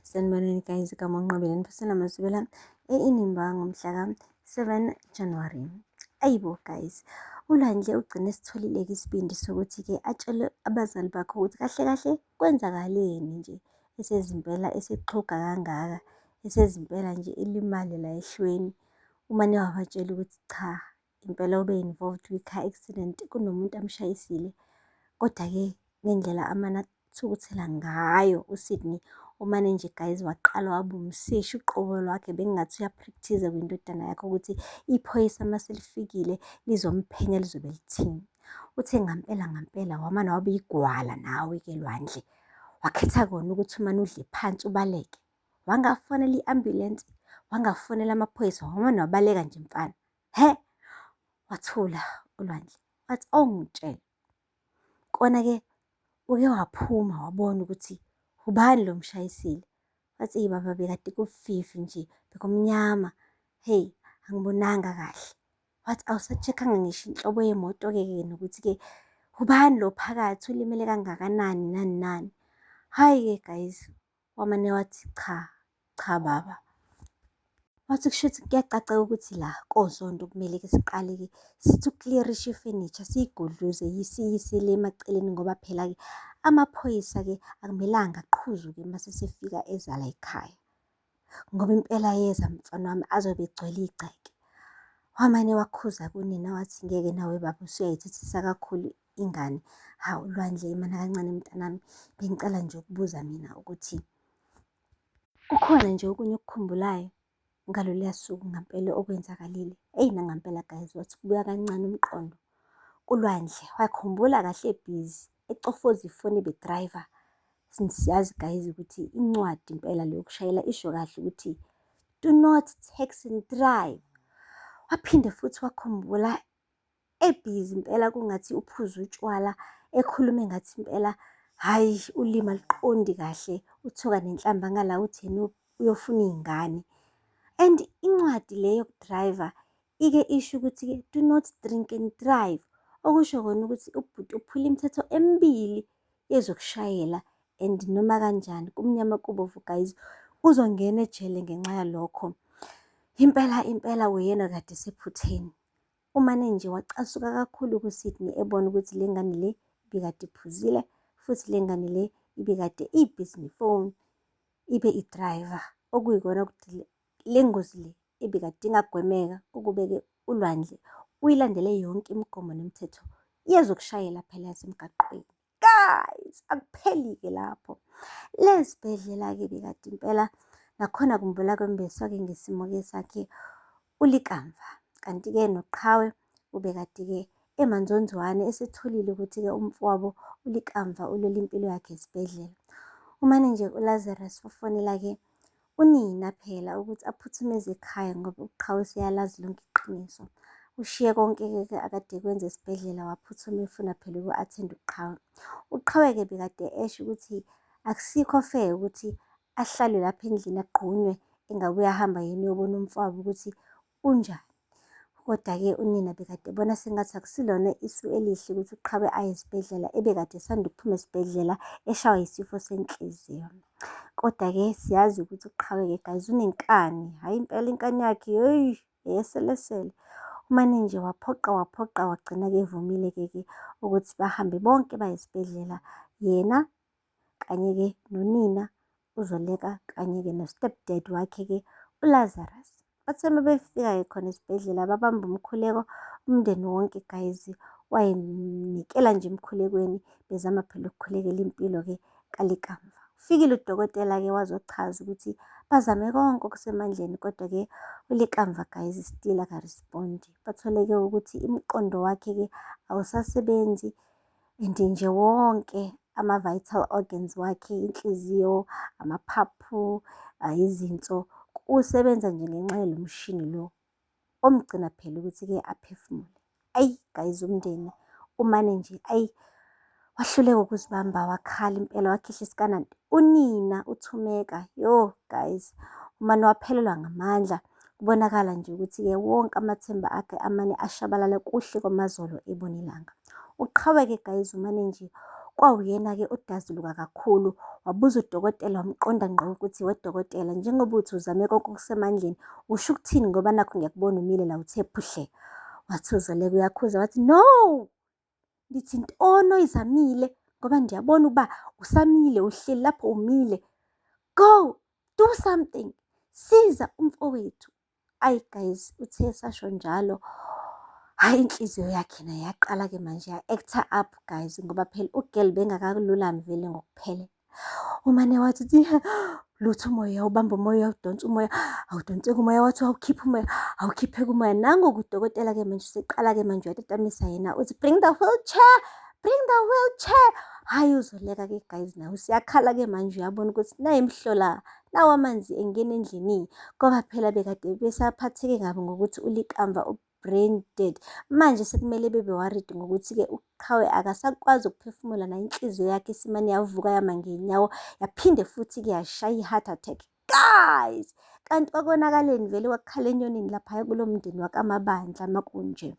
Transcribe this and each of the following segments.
Sanibonani guys, igama uNqobile Nifisela Mazibela e-Inimba ngomhlaka 7 January. Ayibo guys, uLandle ugcine esitholile-ke isibindi sokuthi-ke atshele abazali bakhe ukuthi kahle kahle kwenzakaleni nje esezimpela esexhuga kangaka esezimpela nje elimale la ehlweni uma niwabatshela ukuthi cha impela ube involved kwi-car accident kunomuntu amshayisile. Kodwa-ke ngendlela amane athukuthela ngayo uSydney umane nje guys waqala waba umseshi uqobo lwakhe bekungathi uyapractice kwindodana yakhe ukuthi iphoyisa uma selifikile lizomphenya lizobe lithini. Uthe ngampela ngampela wamane waba igwala nawe-ke lwandle wakhetha kona ukuthi umane udle phansi ubaleke. Wangafonela i-ambulensi, wangafonela amaphoyisa, wamane wabaleka nje mfana. He! Wathula uLwandle wathi, awungitshele. Kona-ke uke waphuma wabona ukuthi ubani lo mshayisile. Wathi, eyi baba bekade kufifi nje, bekumnyama. Hheyi, angibonanga kahle. Wathi, awusa-check-anga ngisho inhlobo yemoto-ke ke nokuthi-ke ubani lo phakathi ulimele kangakanani nani nani. Hhayi-ke guys, Wamane wathi cha, cha baba. Wathi kushuthi kuyacaca ukuthi la kozondo kumele-ke siqale-ke sithi ukukliyerisha ifenisha siyigudluze yisiyisele emaceleni ngoba phela-ke amaphoyisa-ke akumelanga aqhuzuke uma sesefika ezala ekhaya ngoba impela yeza mfana wami azobe egcwele igceke wamane wakhuza kunina wathi ngeke nawe baba usuyayithethisa kakhulu ingane hawu lwandle imana kancane mntanami bengicela nje ukubuza mina ukuthi kukhona nje okunye okukhumbulayo ngaloluya suku ngampela okwenzakalile eyi nangampela guys wathi kubuya kancane umqondo kulwandle wakhumbula kahle ebhizi ecofoza ifoni bedriver siyazi guys ukuthi incwadi impela leyo kushayela isho kahle ukuthi do not text and drive waphinde futhi wakhumbula ebhizi impela kungathi uphuza utshwala ekhulume ngathi impela hhayi ulimi aluqondi kahle uthuka nenhlamba ngala utheni uyofuna iy'ngane and incwadi le yokudrayiva ike isho ukuthi-ke do not drink and drive okusho kona ukuthi ubhuti uphula imithetho emibili yezokushayela and noma kanjani kumnyama kubovu guys uzongena ejele ngenxa yalokho impela impela uyena kade sephutheni Umane nje wacasuka kakhulu kuSydney ebona ukuthi le ngane le ibikade iphuzile futhi le ngane le ibikade iyibhizingi phone ibe idriver okuyikona ukuthi le ngozi le ebikade ingagwemeka ukubeke ulwandle uyilandele yonke imigomo nemithetho yezokushayela phela yasemgaqweni. guys akupheli-ke lapho lezibhedlela-ke bikade impela nakhona kumbula kwembeswa-ke ngesimo-ke sakhe ulikamva kanti-ke noqhawe ubekade-ke emanzonzwane esethulile ukuthi-ke umfowabo ulikamva ulwela impilo yakhe esibhedlela umane nje ulazarus ufonela-ke Unina phela ukuthi aphuthume eze ekhaya ngoba uqhawe seyalazi lonke iqiniso. Ushiye konke-ke ke akade kwenza esibhedlela waphuthuma efuna phela uku-athenda uqhawe. Uqhawe-ke bekade esho ukuthi akusikho fair ukuthi ahlalwe lapha endlini agqunywe engabuye ahamba yena uyobona umfowabo ukuthi Kunjani? Kodwa-ke unina bekade ebona sengathi akusilona isu elihle ukuthi uqhawe aye esibhedlela ebekade esanda ukuphuma esibhedlela eshawa yisifo senhliziyo. Kodwa-ke siyazi ukuthi uqhawe-ke guys unenkani, hhayi impela inkani yakhe yeyi eyeselesele. Umane nje waphoqa waphoqa wagcina-ke evumile-ke ke ukuthi bahambe bonke baye esibhedlela yena kanye-ke nonina uzoleka kanye-ke no-step dad wakhe-ke ulazarus bathe uma befika-ke khona esibhedlela babamba umkhuleko umndeni wonke guys wayenikela nje emkhulekweni bezama phela ukukhulekela impilo-ke kalikamva ufikile udokotela-ke wazochaza ukuthi bazame konke okusemandleni kodwa-ke ulikamva guys still akarespondi bathole-ke ukuthi imiqondo wakhe-ke awusasebenzi and nje wonke ama-vital organs wakhe, inhliziyo, amaphaphu, izinso, kusebenza nje ngenxa yalo mshini lo omgcina phela ukuthi-ke aphefumule. Ayi guys umndeni umane nje ayi wahluleka ukuzibamba wakhala impela wakhihla isikanana. Unina uthumeka yo guys umane waphelelwa ngamandla Kubonakala nje ukuthi-ke wonke amathemba akhe amane ashabalala kuhle kwamazolo ebona ilanga. Uqhaweke guys umane nje kwawuyena-ke odazuluka kakhulu wabuza udokotela wamqonda ngqo ukuthi wedokotela njengoba uthi uzame konke okusemandleni usho ukuthini ngoba nakho ngiyakubona umile la uthe phuhle wathi uzoleka uyakhuza wathi no Ngithi ntono izamile ngoba ndiyabona uba usamile uhleli lapho umile. Go do something, siza umfowethu. Ayi guys uthe esasho njalo hhayi inhliziyo yakhe naye yaqala-ke manje ya-actor up guys ngoba phela ugirl bengakalulami vele ngokuphelele. umane wathi lutho umoya ubamba umoya udonsa umoya awudonseki umoya wathi awukhiphe umoya awukhipheke umoya nangoku udokotela ke manje useqala-ke manje uyatatamisa yena uthi bring the wheelchair bring the wheelchair hhayi uzoleka ke guys nawe usiyakhala ke manje uyabona ukuthi naye mhlola nawo amanzi engena endlini ngoba phela bekade besaphatheke kabi ngokuthi ulikamva brain dead. Manje sekumele bebe worried ngokuthi-ke uqhawe akasakwazi ukuphefumula nayo inhliziyo yakhe isimane yavuka yama ngenyawo yaphinde futhi-ke yashaya i-heart attack. Guys! Kanti kwakonakaleni vele kwakukhala enyonini laphaya kulo mndeni wakamabandla makunje.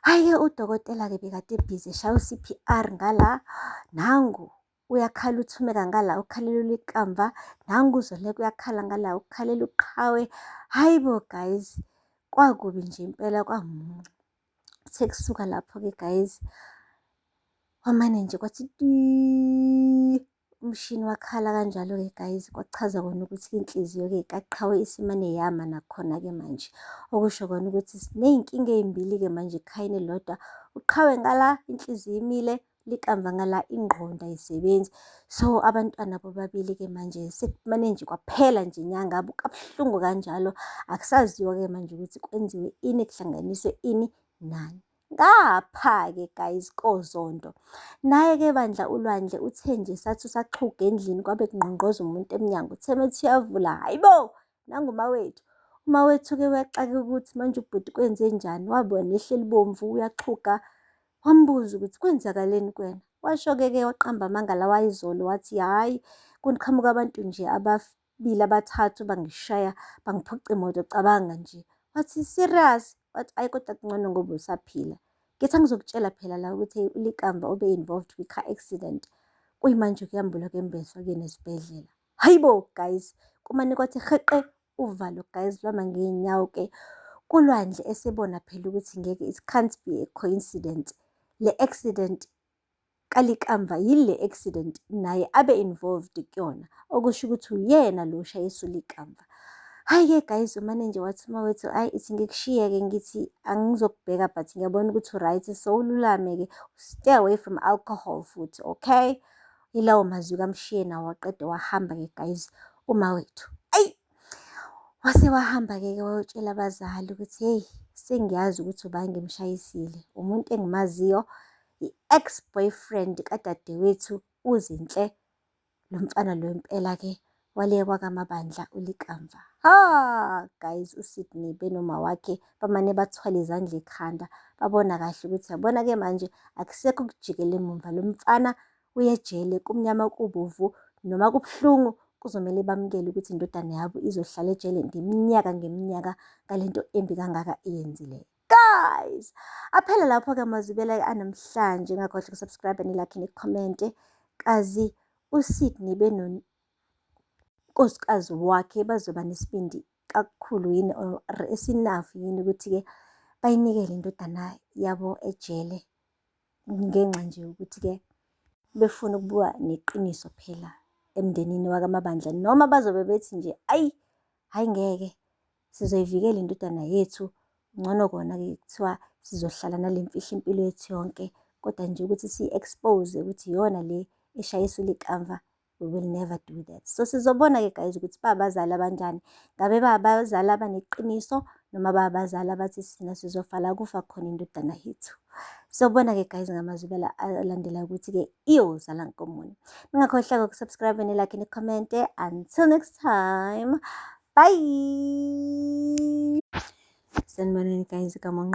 Hhayi-ke udokotela-ke bekade ebhizi eshaya u-C_P_R ngala nangu uyakhala uthumeka ngala ukhalela ulikamva nangu uzoleka uyakhala ngala ukhalela uqhawe hayi bo guys kwakubi nje impela kwamuncu kuthe kusuka lapho-ke guys wamane nje kwathi umshini wakhala kanjalo-ke guys kwachaza kona ukuthi inhliziyo-ke kaqhawe isimane yama nakhona-ke manje okusho kona ukuthi siney'nkinga ey'mbili-ke manje ekhayeni lodwa uqhawe ngala inhliziyo imile likamva ngala ingqondo ayisebenzi so abantwana bobabili ke manje sekumane nje kwaphela nje inyanga kabuhlungu kanjalo akusaziwa ke manje ukuthi kwenziwe ini kuhlanganiswe ini nani ngapha-ke guys kozonto naye-ke bandla ulwandle uthe nje sathi usaxhuga endlini kwabe kungqongqoza umuntu emnyango uthe methi uyavula hayi bo nangumawethu umawethu-ke uyaxake ukuthi manje ubhuti kwenze njani wabona ehleli bomvu uyaxhuga Wambuza ukuthi kwenzakaleni kuwena. Washo-ke ke waqamba amanga lawa ayizolo wathi hhayi kuqhamuka abantu nje ababili abathathu bangishaya bangiphuca imoto cabanga nje. Wathi serious wathi ayi kodwa kungcono ngoba usaphila. Ngithi angizokutshela phela la ukuthi ulikamva obe-involved kwi-car accident. Kuyimanje kuyambulwa kembeswa kuyena esibhedlela. Hhayi bo guys, kumane kwathi rheqe uvalo guys lwama ngey'nyawo-ke. KuLwandle esebona phela ukuthi ngeke it can't be a coincidence. Le accident kaLikamva yile accident naye abe involved kuyona, okusho ukuthi uyena lo oshayisa uLikamva. Hhayi-ke guys umane nje wathi uma wethu hhayi ithi ngikushiye-ke ngithi angizokubheka but ngiyabona ukuthi u-right so ululame-ke stay away from alcohol futhi okay. Yilawo mazwi kaMshiyena waqede wahamba-ke guys uma wethu. Ayi! Wase wahamba-ke ke wayotshela abazali ukuthi hey sengiyazi ukuthi ubange mshayisile. Umuntu engimaziyo i-ex boyfriend kadadewethu uzinhle lo mfana lo impela ke walekwa kamabandla ulikamva ha guys uSydney benoma wakhe bamane bathwala izandla ekhanda babona kahle ukuthi yabona ke manje akusekho ukujikela emumva lo mfana uyejele kumnyama kubovu noma kubuhlungu kuzomele bamukele ukuthi indodana yabo izohlala ejele ngeminyaka ngeminyaka ngalento embi kangaka eyenzileyo guys aphele lapho-ke amazwi bela-ke anamhlanje ngakhohle ukusubscribe nilakhe nikhomente kazi usydney benonkosikazi wakhe bazoba nesibindi kakhulu yini or esinafu yini ukuthi-ke bayinikele indodana yabo ejele ngenxa nje yokuthi-ke befuna ukubuka neqiniso phela emndenini wakamabandla noma bazobe bethi nje ayi hhayi ngeke sizoyivikela indodana yethu. Ngcono kona-ke kuthiwa sizohlala nale mfihlo impilo yethu yonke, kodwa nje ukuthi siyi-expose ukuthi iyona le eshayisa ulikamva we will never do that. So sizobona-ke guys ukuthi babazali abanjani, ngabe babazali abaneqiniso noma babazali abathi sina sizofala kufa khona indodana yethu. Sobona-ke guys ngamazwi alandela ukuthi-ke iyozala nkomoni. Ningakhohlwa-ke ukusubscribe nelakhe nikhomente. Until next time. Bye. Sanibonani guys, kamonqo.